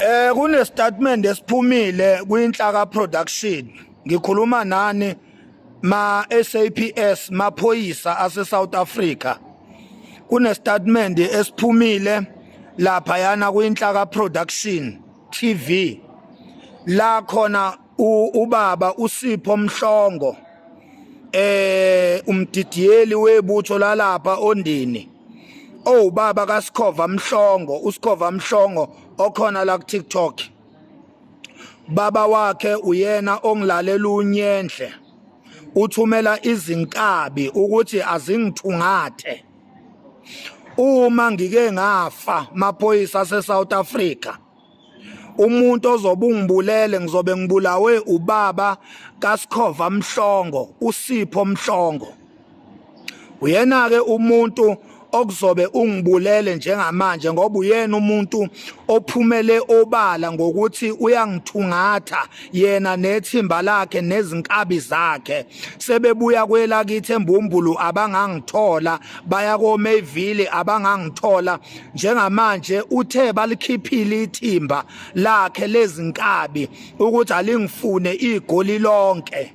Eh kunestatement esiphumile kwinhlaka production. Ngikhuluma nani ma SAPS maphoyisa ase South Africa. Kunestatement esiphumile lapha yana kwinhlaka production TV. La khona ubaba uSipho Mhlongo eh umdidiyeli webutho lalapha ondini owubaba kaSikhova Mhlongo uSikhova Mhlongo okhona la ku TikTok baba wakhe uyena ongilalela unyenhle uthumela izinkabi ukuthi azingithungathe uma ngike ngafa maphoyisa aseSouth Africa umuntu ozobe ungibulele ngizobe ngibulawe ubaba kaSikhova Mhlongo uSipho Mhlongo uyena ke umuntu okuzobe ungibulele njengamanje ngoba uyena umuntu ophumele obala ngokuthi uyangithungatha yena nethimba lakhe nezinkabi zakhe sebebuya kwelakithi embumbulu abangangithola baya koMayville abangangithola njengamanje uthe balikhiphile ithimba lakhe lezinkabi ukuthi alingifune igoli lonke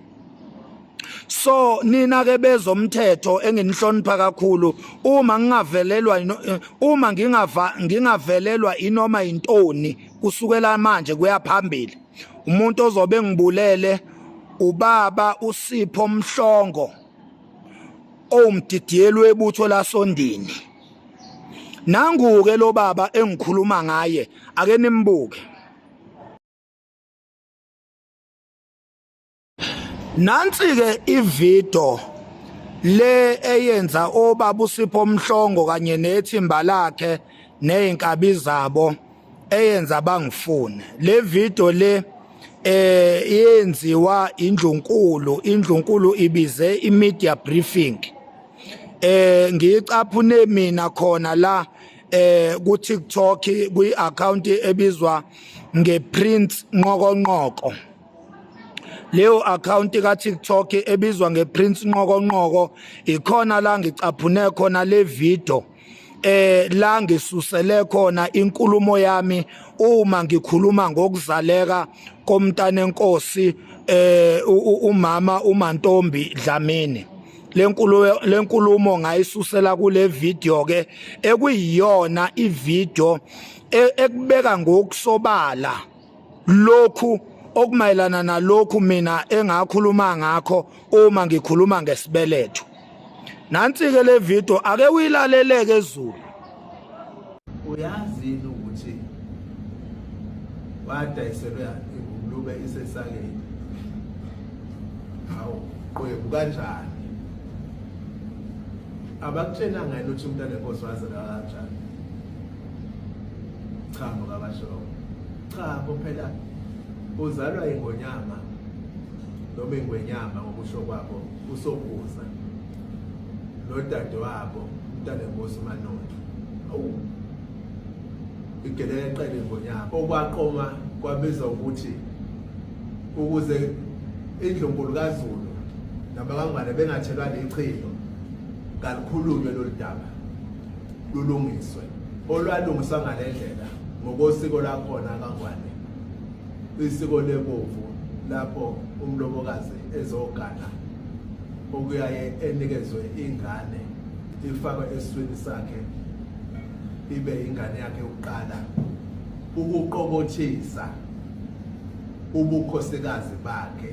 so nina ke bezomthetho enginihlonipha kakhulu uma ngingavelelwa eh, uma ngingava ngingavelelwa inoma intoni kusukela manje kuyaphambili umuntu ozobe ngibulele ubaba usipho mhlongo owumdidiyelwe ebutho lasondini nanguke lo baba engikhuluma ngaye ake nimbuke nansi ke ivideo le eyenza obaba usipho omhlongo kanye nethimba lakhe nezinkabi zabo eyenza bangifune le video le eh yenziwa indlunkulu indlunkulu ibize imedia briefing eh ngiyicaphune mina khona la eh ku TikTok kwi account ebizwa ngePrince Nqokonqoko leyo account ka TikTok ebizwa ngePrince Nqokonqoko ikhona la ngicaphune khona le video eh la ngisusele khona inkulumo yami uma ngikhuluma ngokuzaleka komntana enkosi eh umama uMantombi Dlamini lenkulumo lenkulumo ngayisusela kule video ke ekuyiyona ivideo e, ekubeka ngokusobala lokhu okumayelana nalokhu mina engakhuluma ngakho uma ngikhuluma ngesibeletho nansi ke le video ake uyilaleleke ezulu uyazi ukuthi wadayiselwe ingulube isesakeni hawu qwebu kanjani abakutshena ngani ukuthi umntana enkosi wazela kanjani cha mukabasho cha kuphela uzalwa ingonyama noma ingwenyama ngokusho kwabo usokuza nodade wabo umntana enkosi umanotho awu igelele eqele ingonyama okwaqoma kwabiza ukuthi ukuze indlunkulu kazulu nabakangwane bengathelwa lichilo kalikhulunywe lolu daba lulungiswe olwalungiswa ngale ndlela ngokosiko lakhona kangwane isiko lebovu lapho umlobokazi ezogana okuyaye enikezwe ingane ifakwe eswini sakhe ibe ingane yakhe yokuqala ukuqobothisa ubukhosikazi bakhe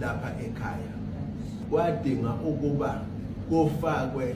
lapha ekhaya kwadinga ukuba kufakwe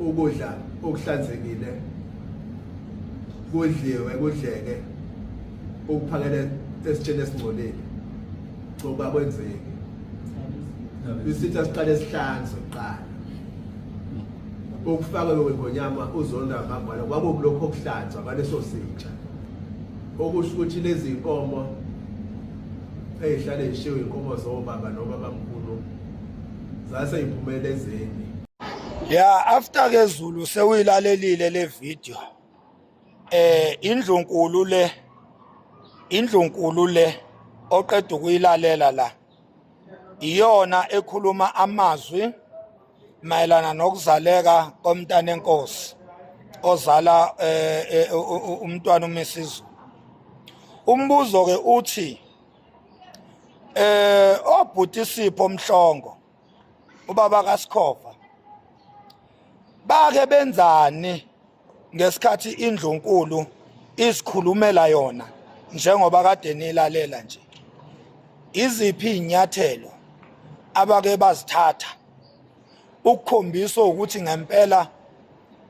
ukudla okuhlanzekile kudliwe kudleke ukuphakele esitsheni esingcolile coba kwenzeki isitha siqale sihlanze kuqala ukufaka lo ngonyama uzonda ngambala kwabo kulokho okuhlanzwa baleso sitsha okusho ukuthi lezi inkomo ezihlale zishiwe inkomo zobaba nobaba mkhulu zase iphumele ezeni ya after ke Zulu sewuyilalelile le video eh indlu nkulu le indlu nkulu le oqeda ukuyilalela la iyona ekhuluma amazwi mayelana nokuzaleka komntana enkosi ozala eh, eh, umntwana uMrs umbuzo ke uthi eh obhuti Sipho Mhlongo ubaba kaSikhova bake benzani ngesikhathi indlunkulu isikhulumela yona njengoba kade nilalela nje iziphi inyathelo abake bazithatha ukukhombisa ukuthi ngempela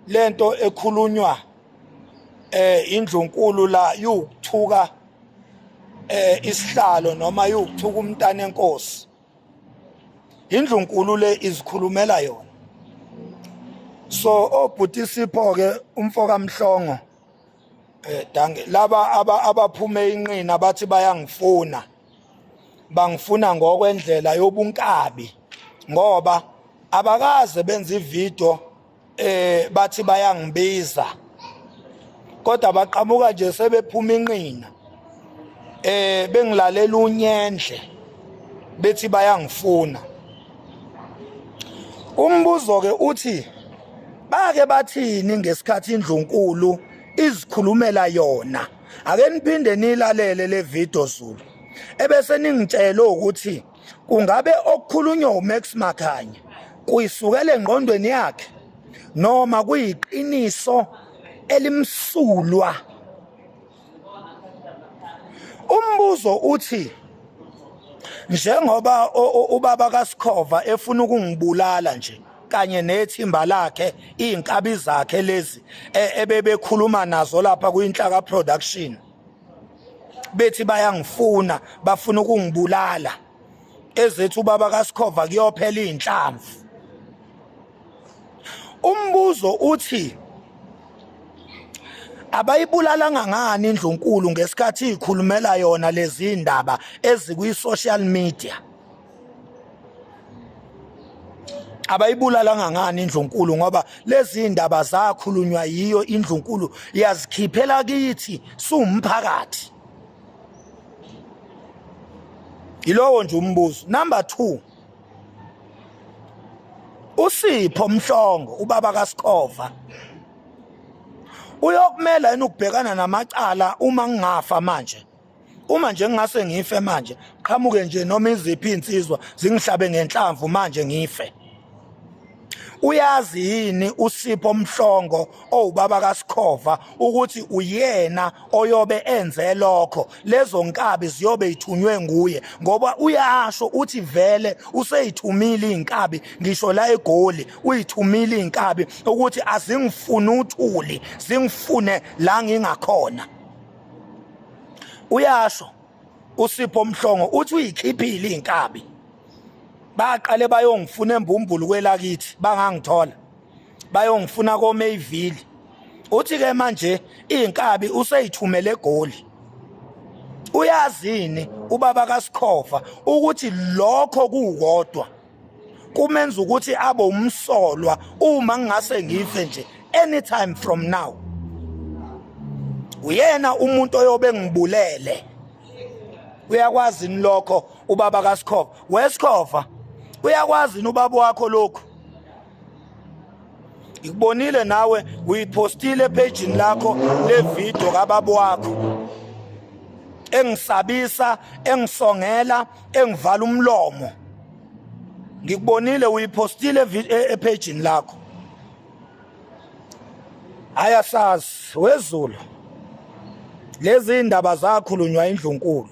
lento ekhulunywa eh indlunkulu la yokuthuka eh isihlalo noma yokuthuka umntana enkosi indlunkulu le izikhulumela yona so obhuti sipho ke umfoka mhlongo eh dange laba abaphuma inqina bathi bayangifuna bangifuna ngokwendlela yobunkabi ngoba abakaze benze ivideo eh bathi bayangibiza kodwa baqhamuka nje sebephuma inqina eh bengilalela unyendle bethi bayangifuna umbuzo ke uthi bake bathini ngesikhathi indlunkulu izikhulumela yona ake niphinde nilalele le video Zulu ebese ningitshela ukuthi kungabe okukhulunywa uMax Makhanye kuyisukele engqondweni yakhe noma kuyiqiniso elimsulwa umbuzo uthi njengoba ubaba kaSikhova efuna ukungibulala nje kanye nethimba lakhe izinkabi zakhe lezi e, ebebekhuluma nazo lapha kuyinhlaka production bethi bayangifuna bafuna ukungibulala ezethu ubaba kaSikhova kuyophela izinhlamvu umbuzo uthi abayibulalanga ngani indlunkulu ngesikhathi ikhulumela yona lezi ndaba ezikwi social media abayibulalanga ngani indlunkulu ngoba lezi ndaba zakhulunywa yiyo indlunkulu yazikhiphela kithi siwumphakathi yilowo nje umbuzo number 2 usipho mhlongo ubaba kaSikhova uyokumela yini ukubhekana namacala uma ngingafa manje uma nje ngingase ngife manje qhamuke nje noma iziphi insizwa zingihlabe ngenhlamvu manje ngife uyazi yini usipho mhlongo owubaba kasikhova ukuthi uyena oyobe enze lokho lezo nkabi ziyobe ithunywe nguye ngoba uyasho uthi vele useyithumile inkabi ngisho la egoli uyithumile inkabi ukuthi azingifuni uthuli zingifune la ngingakhona uyasho usipho mhlongo uthi uyikhiphile inkabi baqale bayongifuna embumbulu kwelakithi bangangithola bayongifuna koMayville uthi ke manje inkabi useyithumele egoli uyazini ubaba kaSikhova ukuthi lokho kukodwa kumenza ukuthi abe umsolwa uma ngingase ngife nje anytime from now uyena umuntu oyobe ngibulele uyakwazi ni lokho ubaba kaSikhova weSikhova uyakwazi ni ubaba wakho lokho ngikubonile nawe uyipostile ephejini lakho le video kababa wakho engisabisa engisongela engivala umlomo ngikubonile uyipostile e-, ephejini lakho ayasazi wezulu lezi indaba zakhulunywa indlunkulu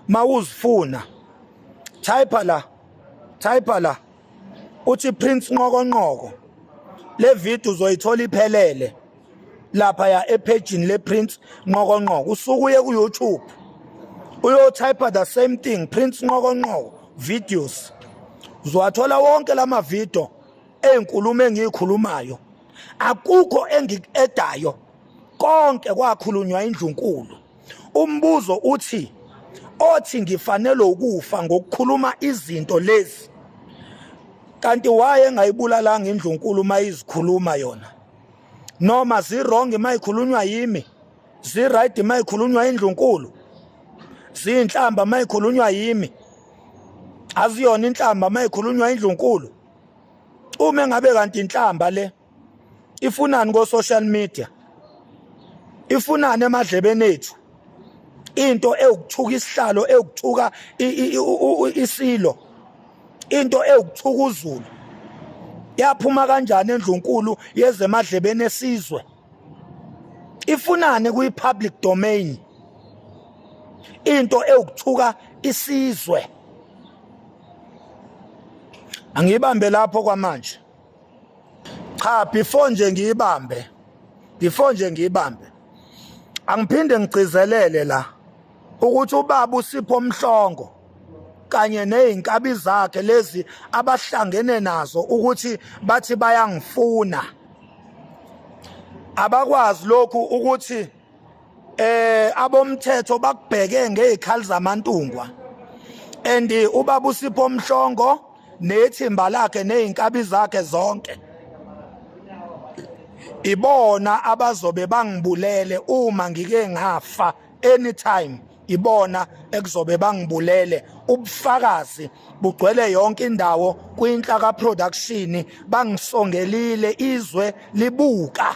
mawuzifuna type la type la uthi Prince Nqokonqoko le video uzoyithola iphelele lapha ya ephejini le Prince Nqokonqoko usukuye ku YouTube uyotype the same thing Prince Nqokonqoko videos uzowathola wonke lama video ezinkulumo engiyikhulumayo akukho engikuedayo konke kwakhulunywa indlunkulu umbuzo uthi othi ngifanele ukufa ngokukhuluma izinto lezi kanti waye engayibulalanga indlunkulu uma izikhuluma yona noma zirong uma ikhulunywa yimi ziright uma ikhulunywa indlunkulu ziyinhlamba uma ikhulunywa yimi aziyona inhlamba uma ikhulunywa indlunkulu uma engabe kanti inhlamba le ifunani ko social media ifunani emadlebeni ethu into ewukuthuka isihlalo ewukuthuka isilo into ewukuthuka uzulu yaphuma kanjani endlunkulu yezemadlebeni esizwe ifunani kwi public domain into ewukuthuka isizwe angiyibambe lapho kwamanje cha before nje ngiyibambe before nje ngiyibambe angiphinde ngigcizelele la ukuthi ubaba usipho mhlongo kanye nezinkabi zakhe lezi abahlangene nazo ukuthi bathi bayangifuna abakwazi lokhu ukuthi eh abomthetho bakubheke ngezikhali zamantungwa and ubaba usipho mhlongo nethimba lakhe nezinkabi zakhe zonke ibona abazobe bangibulele uma ngike ngafa anytime ibona ekuzobe bangibulele ubufakazi bugcwele yonke indawo kwinhlaka production bangisongelile izwe libuka